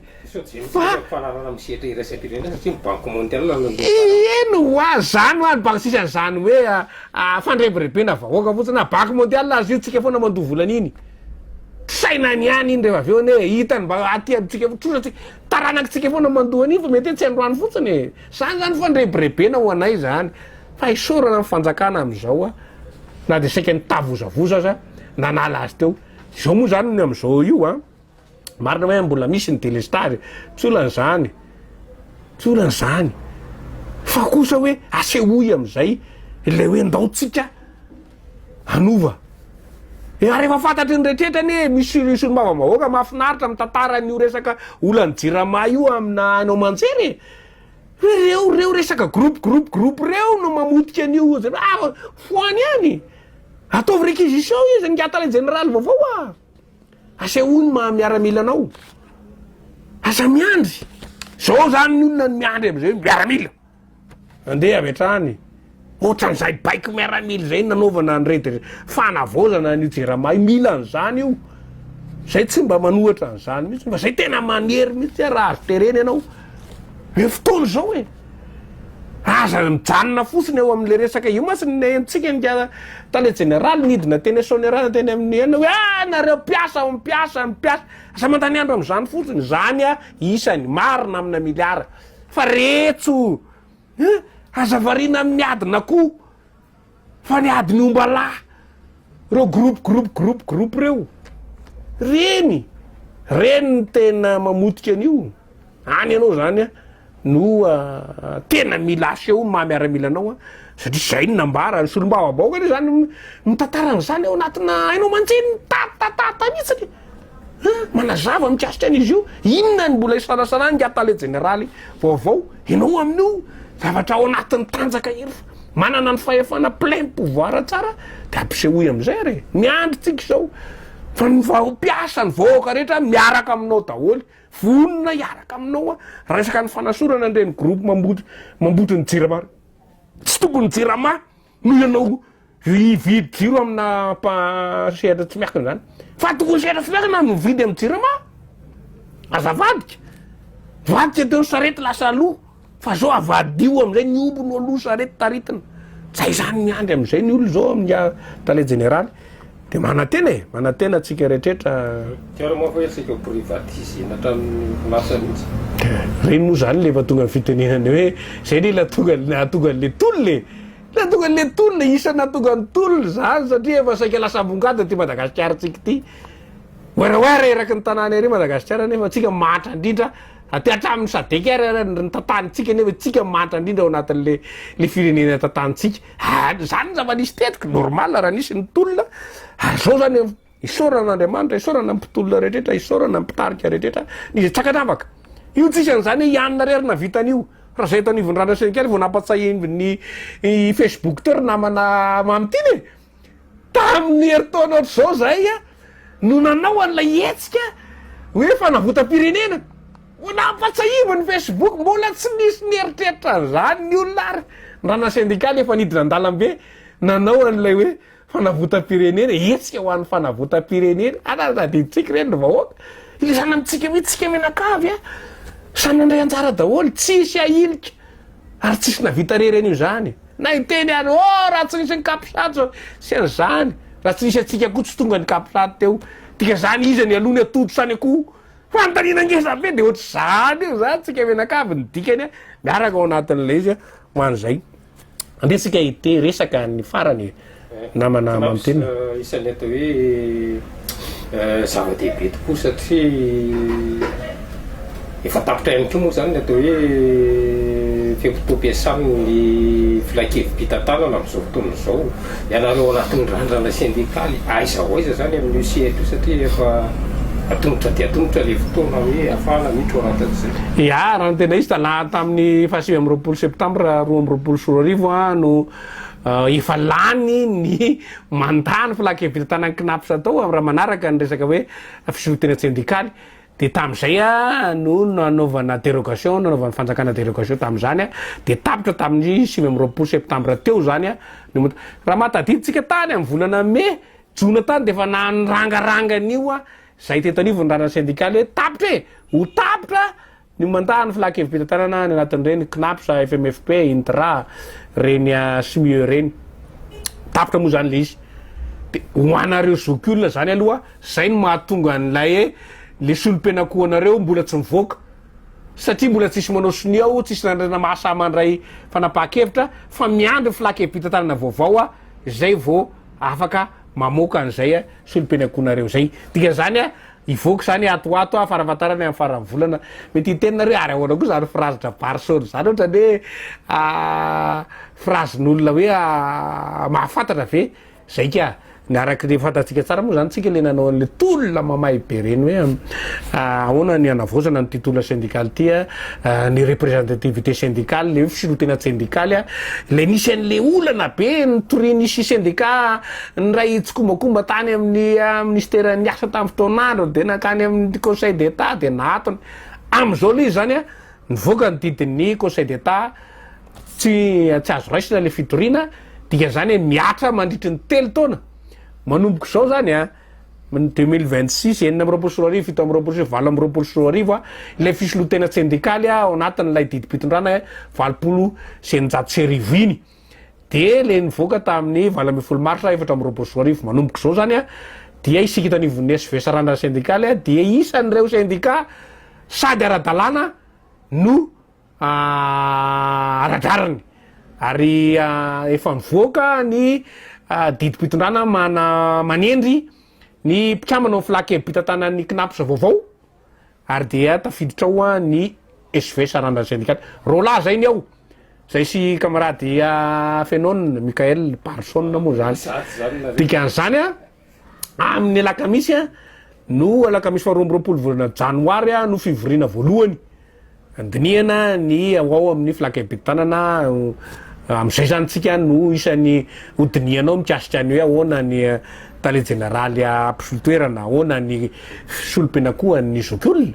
fa fanarana misetra iraisam-pirenena satria ny banque mondiale eny ho a zany ho any banque sisa an'izany hoe ah, ah, fandrebirebena vahoaka fotsiny na banque mondiale azy io tsika foana mandoa volana iny sainany ihany iny rehefa avy eo ne hitany mba aty amintsika trosa tsika Taranakitsika efa na mandoa anio fa mety hoe tsy androany fotsiny e. Zany zany fandrebirebena ho anay zany fa isaorana ny fanjakana amizao a na de saika nitavozavoza aza nanala azy teo. Izao moa zany ny amizao io a marina hoe mbola misy ny delestage tsy olana zany tsy olana zany fa kosa hoe asehoy amizay ilay hoe ndao tsika hanova e ary efa fantatry ny rehetra anie misy sur sur mbava vahoaka mahafinaritra mitantara an'io resaka olan'ny jirama io amina haino aman-jery e hoe reo reo resaka groupe groupe groupe reo no mamotika an'io ah foany ihany ataovy réquisition izy ngiata ilay jeneraly vaovao a asehoy ny maha miaramila anao aza miandry zao zany ny olona ny miandry am'izay miaramila Andeha avy hatrany. Otran'izay baiko miaramila izay nanaovana an'i Redd fanavaozana an'io Jerama io. Mila an'izany io. Izay tsy mba manohatra an'izany mihitsy fa izay tena manery mihitsy raha azo terena ianao. Eo fotoana izao e. Aza mijanona fotsiny eo amin'ilay resaka io mantsy ny antsika ny tale jeneraly nidina teny Asonera teny amin'ny enina hoe ah nareo mpiasa mpiasa mpiasa. Aza mandany andro amin'izany fotsiny. Izany isany marina amina miliara. Fa retso eh! Aza variana amin'ny adin'akoho fa ny adin'ny omba lahy, reo groupe groupe groupe groupe reo, reny reny no tena mamotika an'io, any ianao zany an no tena mila aseho ny maha miaramila anao an, satria zay no nambara, ny solombavambahoaka anie zany mitantara an'izany ao anatina haino aman-dreniny tatatata mihitsiny. Manazava mikasika an'izy io, inona ny mbola isalasalan'ingahy Tale Jeneraly vaovao, ianao amin'io zavatra ao anatin'ny tanjaka irery fa manana ny fahefana plein pouvoir tsara dia ampisehoy amin'izay re, ny androntsika izao fa ny mpiasa, ny vahoaka rehetra miaraka aminao daholo, vonona hiaraka aminao aho, resaka ny fanasorana an'ireny groupe mamboto ny jirama ireny, tsy tompony jirama. Noho ianao hividy jiro amina mpa sehatra tsy miankina zany fa tokony sehatra tsy miankina no mividy amin'ny jirama aza vadika vadika teo sarety lasa aloha fa zao avadiho amizay ny omby no aloha sarety taritina zay zany miandry amizay ny olona zao amin'ny tale jeneraly Dia manantena e! Manantena antsika rehetrrehetra. Tiarao manko hoe tsy ho-privatiser-na hatramin'ny orinasa mihitsy. Ireny moa izany ilay efa tonga ny fitenenana hoe izay anie ilay tonga nahatonga an'ilay tolona e! Ilay nahatonga an'ilay tolona, isan'ny nahatonga ny tolona izany satria efa saika lasa ambongady aty Madagasikarantsika ity. Werawera eraky ny tanàna ery Madagasikara nefa antsika mahantra indrindra aty hatramin'ny Sadec ary ny tantanintsika nefa isika mahantra indrindra ao anatin'ilay ilay firenena tantanintsika. Ary izany ny zava-nisy tetika, normal raha nisy ny tolona, ary izao izany eo. Isaorana Andriamanitra, isaorana ny mpitolona rehetra, isaorana ny mpitarika rehetra, ny izay tsy ankanavaka. Io tsy isan'ny izany hoe i Anona irery no nahavita an'io. Raha izay eto anivon'ny Radio Syndicat vao nampatsahin'ny Facebook teo ry namana Mamy Tina e! Tamin'ny herintaona ohatr'izao izay no nanao an'ilay hetsika hoe fanavotam-pirenena. Ho nampatsahiviny Facebook, mbola tsy nisy nieritreritra an'izany ny olona ary raha na sendikaly efa nidina an-dalambe nanao an'ilay hoe fanavotam-pirenena e, hetsika ho an'ny fanavotam-pirenena, ary ary tadidintsika ireny ry vahoaka, ilay sahala amintsika mihitsy isika mianakavy a, samy handray anjara daholo, tsisy ahilika, ary tsisy nahavita irery an'io izany, na hiteny ary ô raha tsy nisy ny capsat zao, tsy an'izany, raha tsy nisy antsika koa tsy tonga ny capsat teo, dika zany iza ny aloha ny atodosa any akoho, Fanontaniana ngeza be de ohatry zany io zany tsika mianakavy ny dikany a miaraka ao anatin le izy a ho an zay nde tsika hite resaka ny farany e namana mamiteny e. Isan'ny atao hoe zava-dehibe tokoa satria efa tapitra ihany koa moa izany ny atao hoe fe-potoam-piasan'ny filankevi-pitantanana amin'izao fotoana izao. Ianareo anatin'ny randrana sendikaly aiza ho aiza izany amin'io sehatra io satria efa atomotra dia atomotra ilay fotoana hoe hafahana mitroranta an'izay. Ià, raha ny tena izy, tanaty tamin'ny fahasivy amby roapolo septambra roa amby roapolo sy roa arivo an, no efa lany ny mandat ny filan-kevitra tanan'ny Cnaps tao, raha manaraka ny resaka hoe fizoron-tena tsendikaly. Dia tamin'izay no nanaovana dérogation, nanaovan'ny fanjakana dérogation tamin'izany, dia tapitra tamin'ny sivy amby roapolo septambra teo izany ny mot. Raha maha tadidintsika tany amin'ny volana mey, jona tany dia efa nanrangaranga an'io izay teto anivon'ny ranan'ny sendikaly hoe tapitra e! ho tapitra ny mandat an'ny filan-kevi-pitantanana any anatin'ireny Cnaps, FMFP, Intra, ireny Smieu ireny. Tapitra moa izany ilay izy. Dia ho anareo zokiolona izany aloha. Zay no mahatonga an'ilay e le solompenakoanareo mbola tsy mivoaka satria mbola tsisy manao sonia ao tsisy nandrina mahasaha mandray fanapahakevitra fa miandry flakebitantanana vaovao a zay vo afaka mamoaka an'izay a solompenakoanareo zay dikan'izany a hivoaka izany ato ato a farafatarany amin'ny faran'ny volana mety hiteny nareo ary ahoana koa zany frazy dra barison zany ohatrany hoe a frazin'olona hoe a mahafantatra ve Zay ka! Ny araky ny fantatsika tsara moa zany tsika le nanao anle tolona mamay be reny hoe ahoana ny hanavaozana an'ity tolona sendikaly ty a, ny representativité sendikaly, le hoe firontena tsendikaly a, le nisy an'le olana be nitorian'isy sendika niray tsikombakomba tany amin'ny ministera niasa tamin'ny fotoan'androny dia nankany amin'ny conseil d'etat dia nahatony, amin'izao le izy zany a Nivoaka ny didin'ny Conseil d'Etat, tsy tsy azo raisina ilay fitoriana, dikan'izany hoe mihatra mandritry ny telo taona, manomboka izao izany an, ny deux mille vingt six, enina amby roapolo sy roa arivo, fito amby roapolo sy valo amby roapolo sy roa arivo an, ilay fisoloan-tena tsendikaly ao anatin'ilay didim-pitondrana valopolo sy eninjato sy arivo iny. Dia ilay nivoaka tamin'ny valo ambin'ny folo marsa efatra amby roapolo sy roa arivo manomboka izao izany dia isika eto anivon'ny SVS Randra Sendikaly dia isan'ireo sendika sady ara-dalàna no ara-drariny ary efa nivoaka ny didim-pitondrana manendry ny mpikambana ao amin'ny Flac Ebita tanan'ny Cnaps vaovao. Ary dia tafiditra ao ny SV sarandran'ny sendikaly Rollah zay ny ao, zay sy kamarady Afenone, Michael Barson moa zany. Dikan'izany amin'ny alakamisy no alakamisy faharoa amby roapolo volana janoary no fivoriana voalohany. Handinihana ny ao ao amin'ny Flakebitanana amin'izay izany isika no isany ho dinihanao mikasika ny hoe ahoana ny Tale Jeneraly mpisolo toerana, ahoana ny solom-pianankohan'ny zokiolona,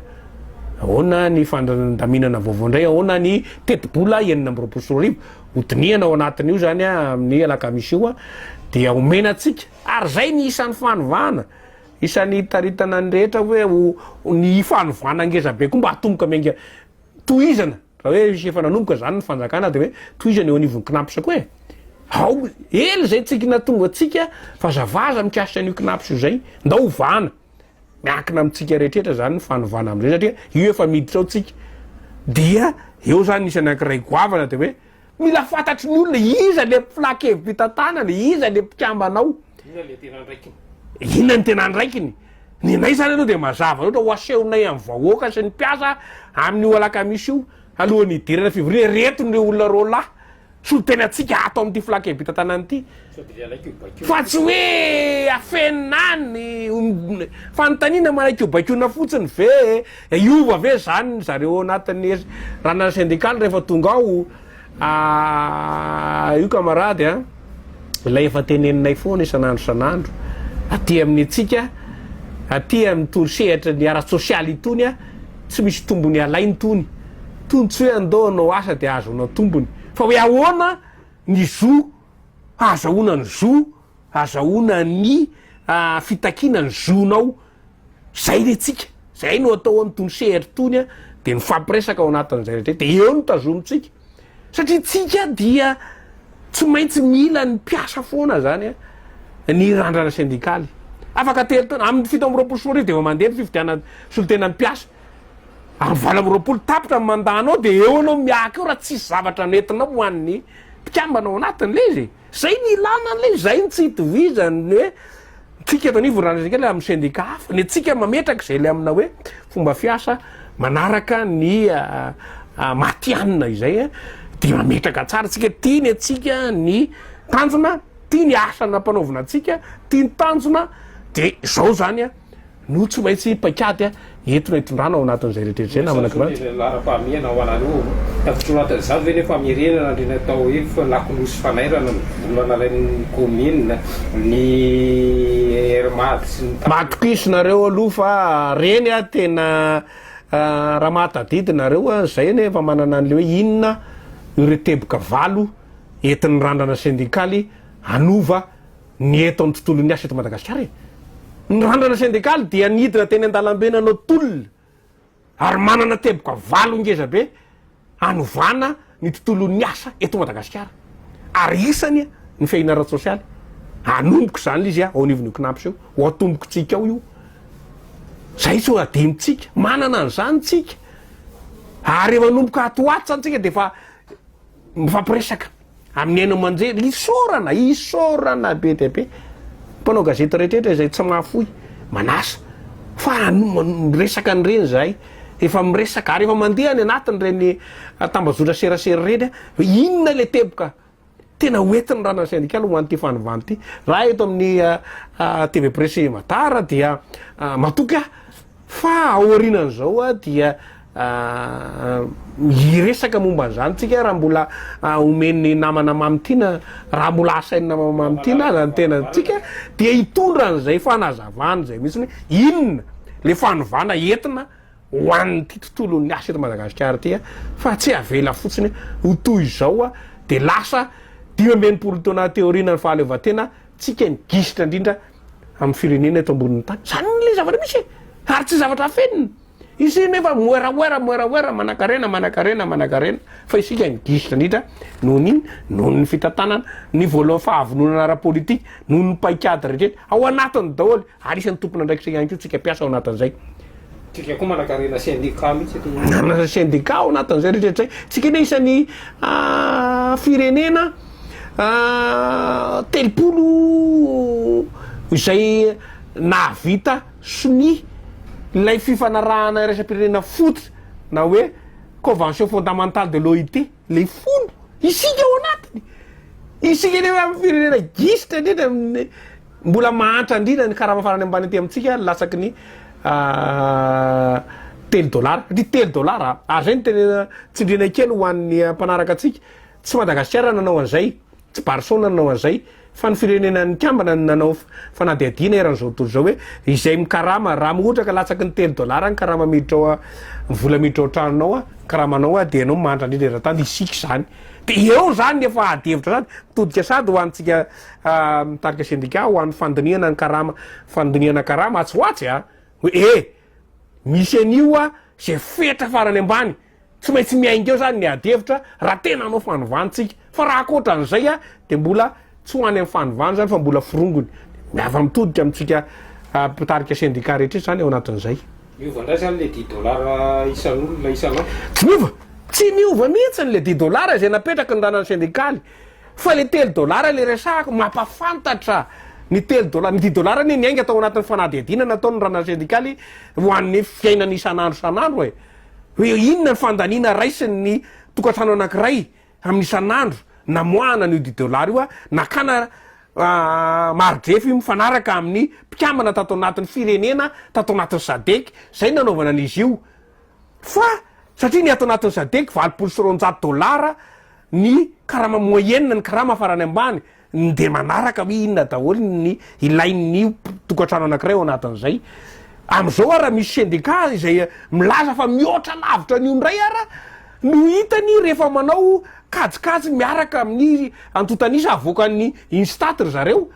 ahoana ny fandaminana vaovao indray, ahoana ny tetibola enina amby roapolo sy roa arivo. Ho dinihana ao anatin'io izany amin'ny alakamisy io dia omena antsika ary izay ny isan'ny fanovana Isan'ny hitaritana ny rehetra hoe ho ny fanovana ngezabe koa mba hatomboka miainga tohizana raha hoe misy efa nanomboka izany ny fanjakana dia hoe tohizana eo anivon'ny Cnaps koa e! ao ela izay tsy nahatonga antsika vazavaza mikasika an'io Cnaps io izay ndao hovahana miankina amintsika rehetrrehetra izany ny fanovana amin'izay satria io efa miditra ao tsika dia eo izany isan'ny ankiray goavana dia hoe Mila fantatry ny olona iza ilay mpila kevy mpitantanana, iza ilay mpikambana ao. Inona ilay tena andraikiny. Inona ny tena andraikiny. Ny anay izany aloha dia mazava loatra, ho asehonay amin'ny vahoaka sy ny mpiasa amin'io alakamisy io, alohan'ny hidirana fivoriana, ireto ireo olona roa lahy, solontenatsika ato amin'ity filan-kevim-pitantanana ity. Fa tsy hoe afenina any ny fanontaniana manaikio baikoina fotsiny ve e? Hiova ve izany ny zareo ao anatin'ny ranona sendikaly rehefa tonga ao? Io kamarady a, ilay efa teneninay foana isan'andro isan'andro aty amin'ny antsika, aty amin'ny torosehatry ny ara-tsosialy itony a, tsy misy tombony alaina itony. Tony tsy hoe andao hanao asa dia hahazoana tombony fa hoe ahoana ny zo. hahazahoana ny zo, hahazahoana ny fitakiana ny zonao, zay le tsika, zay no atao amin'itony sehatra itony a, de mifampiresaka ao anatin'izay rehetra izay, de eo no tazomintsika satria tsika dia tsy maintsy mila ny mpiasa foana zany a, ny randrana sendikaly afaka tery taona, amin'ny fito amby roapolo sy roa arivo de efa mandeha ny fifidianana solontenan'ny mpiasa, Amin'ny valo amby roapolo tapitra ny mandat-nao dia eo ianao miahaka eo raha tsisy zavatra nentinao ho an'ny mpikambana ao anatiny ilay izy e! Izay no ilana an'ilay izy, izay no tsy itovizany ny hoe antsika eto anivon'ny Randrianaisakely amin'ny sendika hafa, ny antsika mametraka izay ilay amina hoe fomba fiasa manaraka ny matihanina izay dia mametraka tsara antsika, tia ny antsika ny tanjona, tia ny asa nampanaovina antsika, tia ny tanjona dia izao izany an! no tsy maintsy paikady entina itondrana ao anatin'izay rehetra izay namana kirantsy. Izany hoe laharam-pahamehana ho anareo ao tafiditra ao anatin'izany ve ny famerenana an'ireny atao hoe lakolosy fanairana ny vola nalain'ny kaominina, ny Air Mad sy ny tariny. Matokisa nareo aloha fa reny tena raha mahatadidy nareo izay anie efa manana an'ilay hoe inona ireo teboka valo entin'ny randrana sendikaly hanova ny eto amin'ny tontolon'ny asa eto Madagasikara e! Ny randrana sendikaly dia nidina teny an-dalambe nanao tolona ary manana teboka valo ngezabe hanovana ny tontolon'ny asa eto Madagasikara ary isany ny fehiny ara-tsosialy. Hanomboka izany lzy ao anivon'io Cnaps io, ho ao tombontsika ao io. Izay tsy ho adinontsika. Manana an'izany tsika ary efa anomboka ato ho ato izany tsika dia efa mifampiresaka. Amin'ny haino aman-jery, isaorana, isaorana be dia be. Mpanao gazety rehetra izay tsy mahafoy, manasa, fa miresaka an'ireny izahay. Efa miresaka, ary efa mandeha any anatin'ireny tambazotra serasera ireny hoe inona ilay teboka tena ho entin'ny ranan'ny sendikaly ho an'ity fanovana ity. Raha eto amin'ny TV Presse Matara dia matoky aho, Fa aorianan'izao dia hiresaka momba an'izany tsika raha mbola omen'ny namana Mamy Tiana, raha mbola asain'ny namana Mamy Tiana aza ny tenantsika dia hitondra an'izay fanazavana izay misy hoe inona le fanovana entina ho an'ity tontolon'ny asa eto Madagasikara ity fa tsy avela fotsiny ho toy izao dia lasa dimy amby enimpolo taona aty aoriana ny fahaleovantena Tsika ny gisitra indrindra amin'ny firenena eto ambonin'ny tany. Izany ilay zavatra misy e! Ary tsy zavatra afenina. Isika anefa moeraoera, moeraoera, manankarena, manankarena, manankarena, fa isika ny gisitra indrindra noho ny inona? Noho ny fitantanana, ny voalohan'ny fahavononana ara-politika, noho ny paikady rehetra ao anatiny daholo. Ary isan'ny tompon'andraikitra ihany koa tsika mpiasa ao anatin'izay. Tsika koa manakarena sendika mihitsy eto. Manana sendika ao anatin'izay rehetra rehetra izay. Tsika anie isan'ny firenena telopolo izay nahavita sonia ilay fifanarahana iraisam-pirenena fototra na hoe convention fondamentale de l'OIT. le fony isika ao anatiny isika anie hoe amin'ny firenena gisitra indrindra amin'ny mbola mahantra indrindra ny karama farany ambany aty amintsika ny latsaky ny ah, telo dolara satria telo dolara ary zay ny tena tsindriana kely ho an'ny ah, mpanaraka antsika tsy madagasikara nanao an'izay Tsy Barcelona no nanao an'izay, fa ny firenena nikambana no nanao fanadihadiana eran'izao tontolo izao hoe izay mikarama, raha ohatra ka latsaky ny telo dolara ny karama miditra ao, ny vola miditra ao an-tranonao, ny karamanao, dia ianao manitra indrindra eran-tany, dia isika izany. Dia eo izany ny efa ady hevitra izany, mitodika sady ho antsika mitarika sendika ho an'ny fandinihana ny karama, fandinihana karama atsy ho atsy a! hoe eh! misy an'io a! izay fetra farany ambany. Tsy maintsy miainga eo zany ny ady hevitra raha tena hanao fanovana tsika fa raha ankoatra an'izay a de mbola tsy ho any amin'ny fanovana zany fa mbola forongony miava mitodika amintsika mpitarika sendika rehetra rehetra zany ao anatin'izay. Miova ndray zany le dix dollars isan'olona isan'andro? Tsy miova! Tsy miova mihitsiny le dix dollars izay napetraky ny ranan'ny sendikaly fa le telo dollars le resahako mampafantatra ny telo dollars, ny dix dollars anie niainga tao anatin'ny fanadihadiana nataon'ny ranan'ny sendikaly ho an'ny fiainana isan'andro isan'andro e! Hoe inona ny fandaniana raisin' ny tokantrano anankiray amin' isan'andro namoahana an' io Dideo Lary io, nakana maridrefy mifanaraka amin' ny mpikambana tato anatin' ny firenena tato anatin' ny Sadec izay no nanaovana an' izy io fa satria ny ato anatin' ny Sadec valopolo sy roanjato dôlara ny karama moyenne ny karama farany ambany ny dia manaraka hoe inona daholo ny ilain'ny tokantrano anankiray ao anatin'izay. Amin'izao ara misy syndicat izay milaza fa mihoatra lavitra an'io indray ara no hitany rehefa manao kajikajy miaraka amin'ny antontan'isa avoakan'ny UNSTAT ry zareo.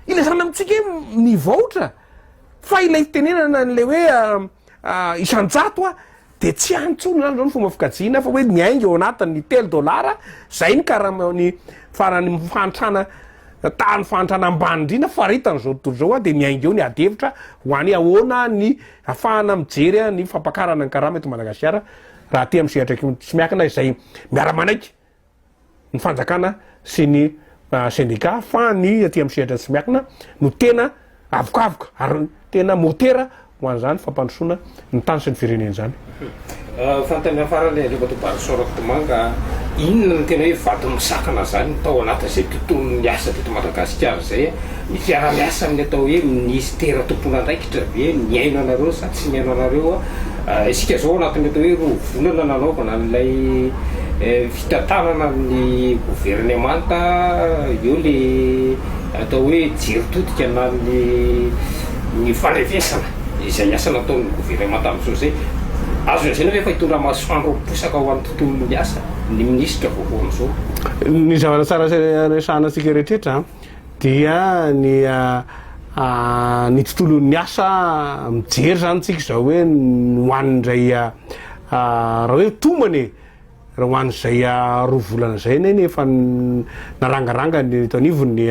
Ilazana amintsika hoe mivaotra fa ilay fitenenana an'ilay hoe isan-jato Dia tsy any intsony izany izao ny fomba fikajiana fa hoe ny ainga eo anatiny, ny telo dolara, izay ny karamaon'ny farany fahantrana tahan'ny fahantrana ambany indrindra faritany izao tontolo izao a, dia ny ainga eo ny ady hevitra ho any ahoana ny afahana mijery ny fampakarana ny karama eto Madagasikara raha aty amin'ny sehatra tsy miankina izay miara-manaiky ny fanjakana sy ny sendika fa ny aty amin'ny sehatra tsy miankina no tena avokavoka ary tena motera ho an'izany fampandrosoana ny tany sy ny firenena izany. Fanontaniana mhm. farany Andriamatoa Barisao Rakotomanga, inona no tena hoe vato misakana izany tao anatin'izay tontolon'ny asa teto Madagasikara izay ny fiaraha-miasa amin'ny atao hoe minisitera tomponandraikitra ve mihaino anareo sa tsy mihaino anareo Isika izao anatin'ilay hoe roa volana nanaovana an'ilay fitantanana amin'ny governemanta eo ilay atao hoe jery todika na ny fandrevesana izay asa nataon'ny governemanta amin'izao izay. Azo lazaina ve fa hitondra masoandro miposaka ho an'ny tontolon'ny asa ny minisitra vaovao amin'izao? Ny zavatra tsara resahantsika rehetra eto izany. Dia ny ny tontolon'ny asa mijery zany tsika izao hoe ho an'izay raha hoe tombony e, raha ho an'izay roa volana izay neny efa narangaranga ny eto anivon'ny ny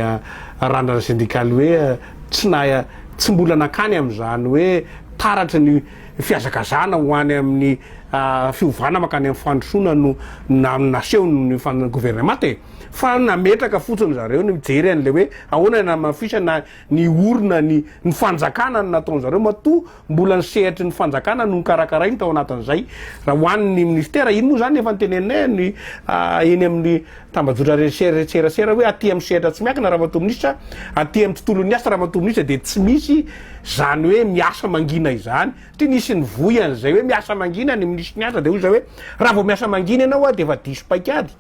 randrana sendikaly hoe tsy na tsy mbola nankany amin'izany hoe taratry ny fihazakazahana ho any amin'ny fiovana mankany amin'ny fandrosoana no nasehon'ny governemanta e. fa nametraka fotsiny zareo ny mijery an'le hoe ahoana ny hamafisana ny orina ny ny fanjakana ny nataony zareo matoa mbola ny sehatry ny fanjakana no nikarakarainy tao anatin'izay raha ho an'ny ministera iny moa zany efa niteneninay ny eny amin'ny tambajotra reserasera hoe aty amin'ny sehatra tsy miakina raha matoa minisitra aty amin'ny tontolon'ny asa raha matoa minisitra dia tsy misy zany hoe miasa mangina izany satria nisy ny voy an'izay hoe miasa mangina ny minisitry ny asa dia hoy izay hoe raha vao miasa mangina ianao dia efa diso paikady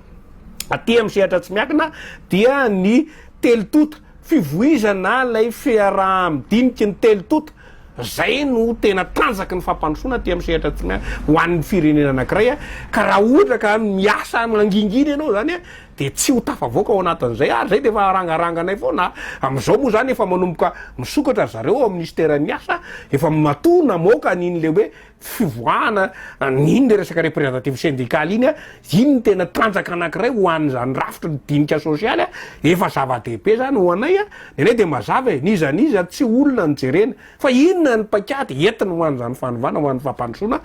Aty amin'ny sehatra tsy miankina dia ny telo tonta, fivoizana ilay fiaraha-midiniky ny telo tonta, izay no tena tanjaky ny fampandrosoana aty amin'ny sehatra tsy miankina ho an'ny firenena anankiray, ka raha ohatra ka miasa mangingina ianao izany dia tsy ho tafavoaka ao anatin'izay ary izay dia efa arangaranganay foana. Amin'izao moa izany efa manomboka misokatra ry zareo ao minisiteran'ny asa, efa matoa namoaka an'iny ilay hoe fivoahana an'iny le resaka représentative syndicale iny a, iny ny tena tanjaka anankiray ho an'izany rafitry ny dinika sosialy a, efa zava-dehibe zany ho anay a, ny anay de mazava e, n'iza n'iza tsy olona no jerena fa inona ny paikady entiny ho an'izany fanovana ho an'ny fampandrosoana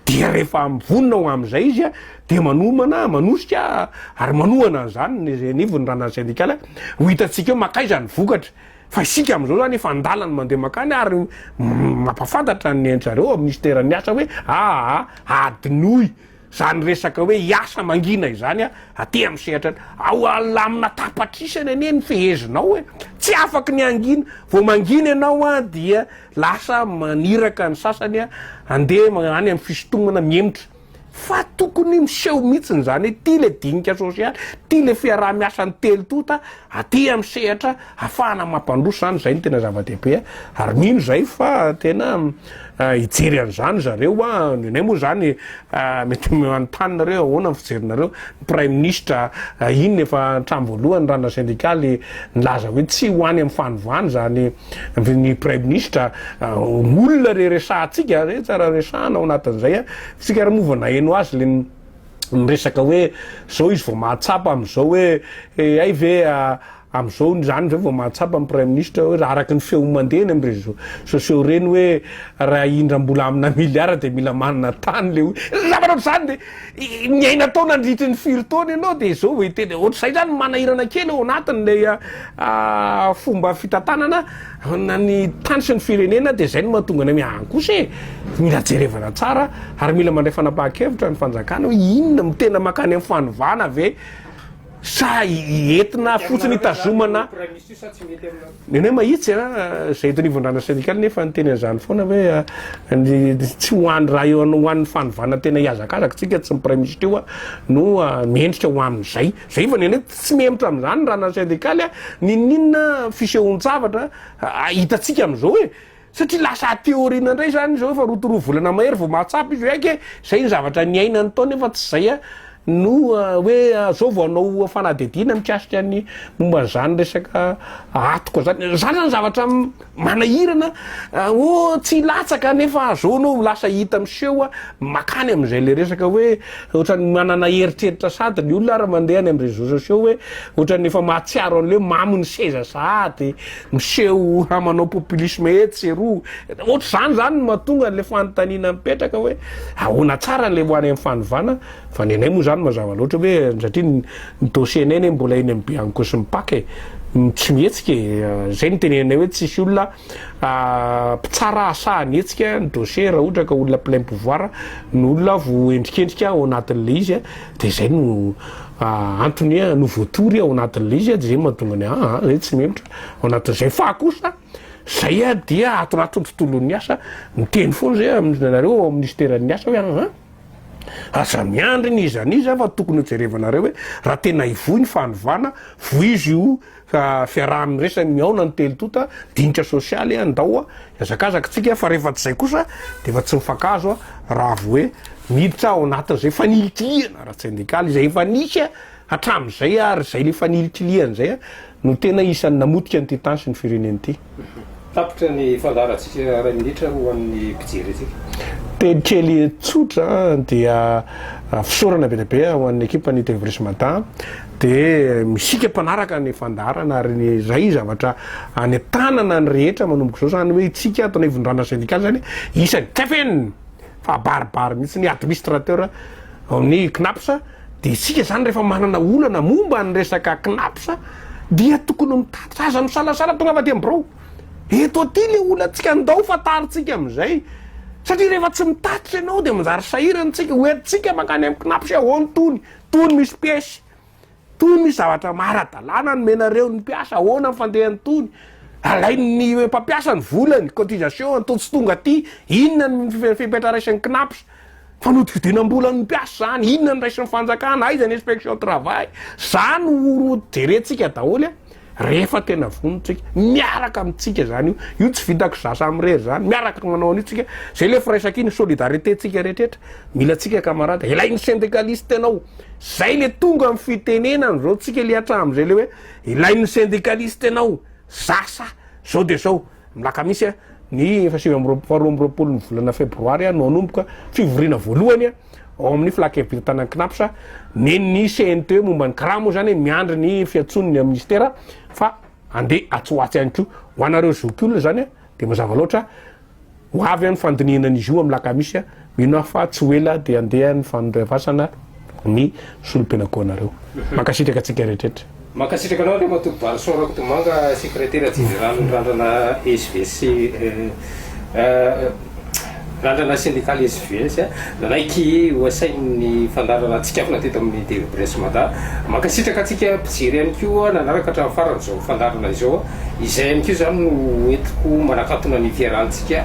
dia rehefa vonona ho amin'izay izy a dia manomana, manosika ary manohana an'izany ny anivon'ny randan'ny syndicale a, ho hitantsika eo mankaiza ny vokatra. Fa isika amin'izao izany efa an-dalana mandeha mankany ary mampahafantatra ny nenitry-zareo ao minisiteran'ny asa hoe aa adinoy izany resaka hoe hiasa mangina izany aty amin'ny sehatra ny ao alamina tapatrisany anie ny fehezinao e! tsy afaky ny hangina, vao mangina ianao an dia lasa maniraka ny sasany an handeha any amin'ny fisintomana mihemotra. Fa tokony miseho mihitsiny izany hoe ity ilay dinika sosialy, ity ilay fiaraha-miasan'ny telo tonta aty amin'ny sehatra hahafahana mampandroso izany, izay no tena zava-dehibe ary mino izay fa tena hijery an'izany ry zareo, ny anay moa izany mety manontany nareo ahoana ny fijerinareo, ny praiminisitra iny efa hatramin'ny voalohany ranona sendikaly nilaza hoe tsy ho any amin'ny fanovana izany Ary ny Praiminisitra, olona re resahantsika, re tsara resahana ao anatin'izay an, tsika ary moa vao naheno azy le miresaka hoe zao izy vao mahatsapa am'zao hoe hay ve am'zao zany zao vao mahatsapa ny Praiminisitra hoe araky ny feo mandeha eny am réseau sociaux reny hoe raha indram-bola amina milliard de mila manana tany le hoe zavatra ohatr'zany le Niaina tao nandritry ny firy taona ianao dia izao vao hiteny hoe ohatr'izay izany manahirana kely ao anatin'ilay fomba fitantanana ny tany sy ny firenena dia izay no mahatonga anay hoe any kosa e! Mila jerevana tsara ary mila mandray fanapahan-kevitra ny fanjakana hoe inona no tena mankany amin'ny fanovana ve? Sa entina fotsiny hitazomana ny anay mahitsy a, izay eto anivon-drana sendikaly nefa niteny an'izany foana ve tsy ho any raha eo ho an'ny fanovana tena hihazakazaka tsika tsy ny praiminisitra io no mendrika ho amin'izay zay fa ny anay tsy mihemotra amin'izany ny rana sendikaly a, n'inon'inona fisehoan-tsavatra hitantsika amin'izao e. Satria lasa aty aoriana indray izany izy efa roa to roa volana mahery vao mahatsapa izy hoe aika e, izay ny zavatra niainany tao nefa tsy izay a, no hoe izao vao hanao fanadihadiana mikasika ny momba an'izany resaka atoka izany. Izany izany zavatra manahirana, oh tsy hilatsaka nefa izao enao lasa hita miseho a, makany amin'izay ilay resaka hoe ohatran'ny manana eritreritra sady ny olona ary mandeha any amin'ny réseaux sociaux hoe ohatran'ny efa mahatsiaro an'ilay hoe mamo ny seza sahady Miseho ha manao populisme etsy sy eroa. Ohatr'izany izany no mahatonga an'ilay fanontaniana mipetraka hoe ahoana tsara ilay ho any amin'ny fanovana fa ny anay moa izany mazava loatra hoe satria ny ny dossier-nay anie mbola eny amin'ny bianco sy ny pac e. Tsy mihetsika e. Izay no teneninay hoe tsisy olona mpitsara hasaha ny hetsika ny dossier raha ohatra ka olona plein pouvoir no olona voaendrikendrika ao anatin'ilay izy. Dia izay no antony hoe no voatory ao anatin'ilay izy, dia izay mahatonga ny ah, ah, izay tsy melotra ao anatin'izay. Fa kosa, izay dia atoraton'ny tontolon'ny asa, miteny foana izay aminareo ao amin'ny minisiteran'ny asa hoe ah, ah, aza miandry ny iza n'iza fa tokony hojerevanareo hoe raha tena hivoy ny fanovana, vohizo io. Ka fiaraha-miresaky ny mihaona ny telo tonta, dinika sosialy an, ndao a, hiazakazaka tsika fa rehefa tsy zay kosa de efa tsy mifankahazo a, raha vo hoe miditra ao anatin'izay fanilikilihana ara-tsendikaly izay efa nisy a, hatramin'izay ary izay le fanilikilihana izay a, no tena isan'ny namotika an'ity tany sy ny firenena ity. Tapitra ny fandaharantsika iray minitra ho an'ny mpijery antsika. Teny kely tsotra dia fisaorana be dia be ho an'ny ekipan'ny Tevrish Mada dia misika mpanaraka ny fandaharana ary ny izay zavatra any an-tanana ny rehetra manomboka izao izany hoe itsika ato anivon-drana sendikaly izany isany kfn fahabaribary mihitsy ny administrateur ao amin'ny CNAPS Dia isika izany rehefa manana olana momba ny resaka Cnaps dia tokony mitatitra aza misalasala tonga fa dia mibirao. Eto aty ilay olantsika ndao fantarintsika amin'izay satria rehefa tsy mitatitra ianao dia manjary sahirana isika ho entintsika mankany amin'ny Cnaps hoe ahoana tony, tony misy piesy, tony misy zavatra maara-dalàna nomenareo ny mpiasa, ahoana ny fandehany tony, alain'ny mpampiasa ny volany, cotisation, antony tsy tonga aty, inona ny fepetra raisin'ny Cnaps. Fanodikodinam-bolan'ny mpiasa zany, inona no raisin'ny fanjakana, aiza ny inspection travail, zany ho jerentsika daholo a, rehefa tena vonontsika, miaraka amintsika zany io, io tsy vitako za samy irery zany, miaraka manao an'io tsika, zay le firaisako iny, solidarité tsika rehetra, mila tsika camarade, ilay ny syndicaliste anao, zay le tonga amin'ny fitenenana zao tsika le hatramin'izay le hoe, ilay ny syndicaliste anao, za sa, zao de zao. Ny alakamisy ny efa sivy amby roapolo, faharoa amby roapolo ny volana febroary no hanomboka fivoriana voalohany ao amin'ny filankevi-dry tanan'ny Cnaps nen'ny cnt momba ny kra moa izany miandry ny fiantsoan'ny minisitera fa andeha atsy ho atsy ihany koa ho anareo zokiolona izany dia mazava loatra ho avy any fandinihana an'izy io amin'ny alakamisy Mino aho fa tsy ho ela dia handeha ny fanondroavasana ny solom-pianankoanareo. Mankasitraka antsika rehetrretra. Mankasitraka anao Andriamatoa Barison Rakotomanga, Sekretera Jeneralin'ny Randrana SVS, Randrana Sendikaly SVS, nanaiky ho asain'ny fandaharana tsikafona teto amin'ny TV Presse Mada. Mankasitraka antsika mpijery ihany koa nanaraka hatramin'ny farany izao fandaharana izao. Izay ihany koa izany no entiko manakatona ny fiarahantsika